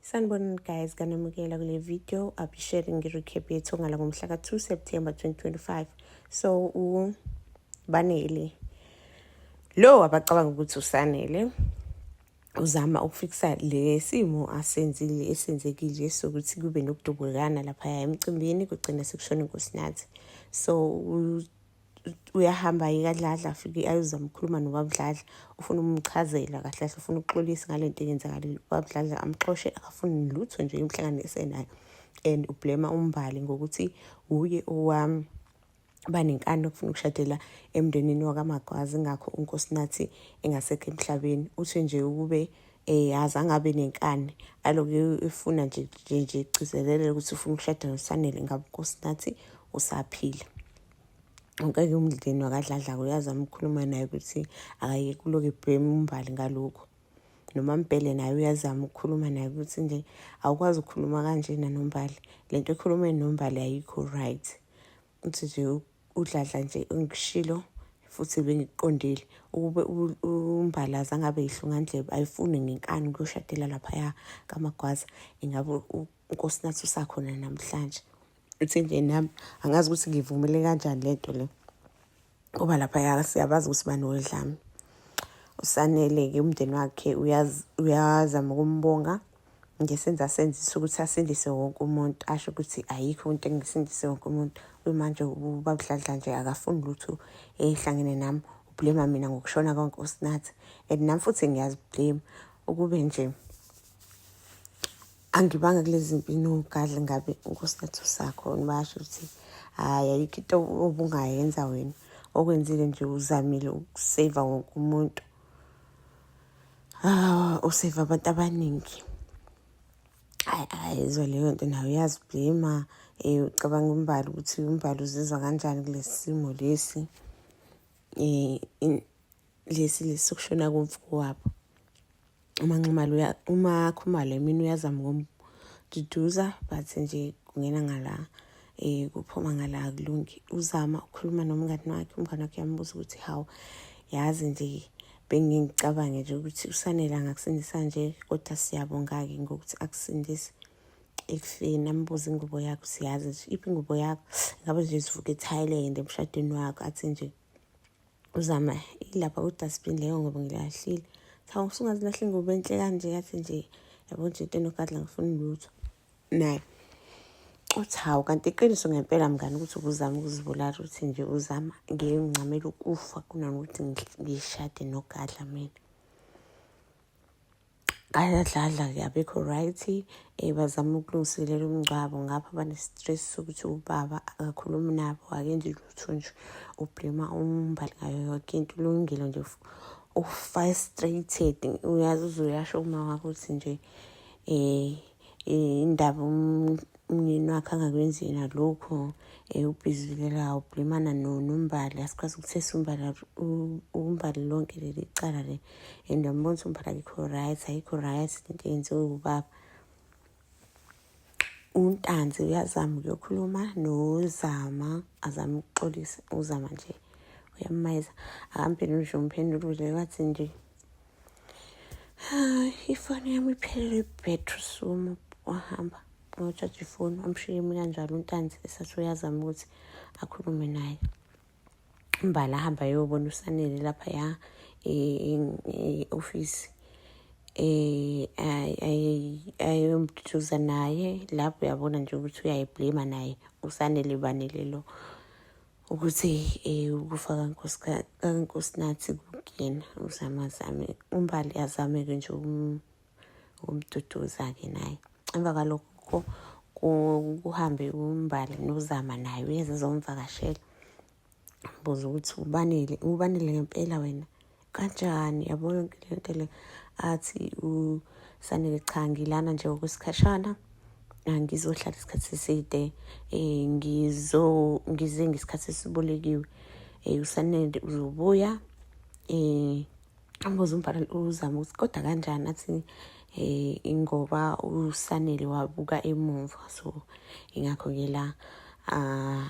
Sanibonani guys kanamukela kule video I'll be sharing i-recap yethu ngala ngomhla ka-2 September 2025 so ubanele lo abacabanga ukuthi usanele uzama ukufikisa le simo asenzile esenzekile sokuthi kube nokudubukana laphaya emcimbini kugcina sekushona inkosinathi so uyahamba yeka dladla afike ayozama ukukhuluma nobabudladla ufuna umchazela kahle kahle ufuna ukuxolisa ngale nto eyenzakalile ubabudladla amxoshe akafuni lutho nje umhlangano esenayo and ublema umbali ngokuthi wuye owami banenkani okufuna ukushadela emndenini wakamagwazi ngakho unkosinathi engasekho emhlabeni uthi nje ukube eh yazi angabe nenkani aloke efuna nje nje nje igcizelele ukuthi ufuna ukushada nosanele ngabe nkosi nathi usaphila ngeke umndleni wakadladla uyazama ukukhuluma naye ukuthi akaye kuloke bhema umbali ngalokho noma mbhele naye uyazama ukukhuluma naye ukuthi nje awukwazi ukukhuluma kanjena nombali lento ekhuluma nombali ayikho right uthi nje udladla nje engikushilo futhi bengikuqondile ukube umbalaza ngabe yihlungandlebe ayifuni ngenkani ukuyoshadela laphaya kamagwaza ingabe unkosinathi usakhona namhlanje uthi nje nami angazi ukuthi ngivumele kanjani le nto le ngoba laphaya siyabazi ukuthi banodlami usanele-ke umndeni wakhe uyazama ukumbonga ngesenza asenzisa ukuthi asindise wonke umuntu asho ukuthi ayikho into engisindise wonke umuntu kuyimanje ubabudladla nje akafuni lutho ehlangene nami ublema mina ngokushona konke usinathi and nami futhi ngiyaziblema ukube nje angibanga kulezi mpi nogadla ngabe unkosinathi usakho nibasho ukuthi hhayi ayikho into obungayenza wena okwenzile nje uzamile ukuseva wonke umuntu Ah, usave abantu abaningi. Hayi hayi izwe leyo nto nayo uyaziblema eh ucabanga umbali ukuthi umbali uzizwa kanjani kulesi simo lesi eh lesi lesokushona komfuko wabo uma nxumalo uma khumalo mina uyazama ukumduduza but nje kungena ngala eh kuphuma ngala kulungi uzama ukukhuluma nomngani wakhe umngani wakhe yambuza ukuthi hawu yazi nje bengingicabange nje ukuthi usanele angakusindisa nje kodwa siyabonga-ke ngokuthi akusindise ekufeni ambuze ingubo yakho siyazi nje iphi ingubo yakho ngabe nje sivuka ethailand emshadweni wakho athi nje uzama ilapha kudustbin leyo ngoba ngilahlile cha usungazilahle ingubo enhle kanje yathi nje yabo nje into enogadla ngifuna lutho naye uthi hawu kanti iqiniso ngempela mngani ukuthi ubuzama ukuzibulala ukuthi nje uzama ngeke ngincamela ukufa kunanokuthi ngishade nogadla mina ayadlala ke abekho right um eh, bazama ukulungiselela umngcwabo ngapha bane-stress sokuthi ubaba akakhulumi nabo akenzi lutho nje ublema umbali ngayo yoke into ulungile nje ufrustrated uyazi uzoyasho uma wakho ukuthi nje um indaba umnini wakhe angakwenzi yena lokhu um eh, ubhizilela ubhlimana nombali asikwazi ukuthi esiumbala umbali lonke leli cala le and ambona ukuthi umbali akekho right ayikho right lento yenziwe ubaba untanzi uyazama ukuyokhuluma nozama azama ukuxolisa uzama nje uyamayeza akamphenduli nje umphendulule wathi nje ifoni yami iphelele ibhetri sumu wahamba ngotshaja ifoni amshiye imi kanjalo untanzi esathi uyazama ukuthi akhulume naye mbala ahamba yobona usanele lapha ya e-ofisi eh ayomduduza naye lapho uyabona nje ukuthi uyayiblema naye usanele banele lo ukuthi eh, ukufa kankosinathi kukuyena uzame azame umbali azame-ke nje ukumduduza-ke naye emva kwalokho kuhambe umbali nozama naye uyeze zomvakashela buza ukuthi ubanele ubanele ngempela wena kanjani yabona yonke le nto le athi usanele cha ngilana nje okwesikhashana ngizohlala isikhathi eside um ngizo ngize ngesikhathi esibolekiwe um usanele uzobuya um amboze umbhala uzama ukuthi kodwa kanjani athi um ingoba usanele wabuka emuva so ingakho-ke la um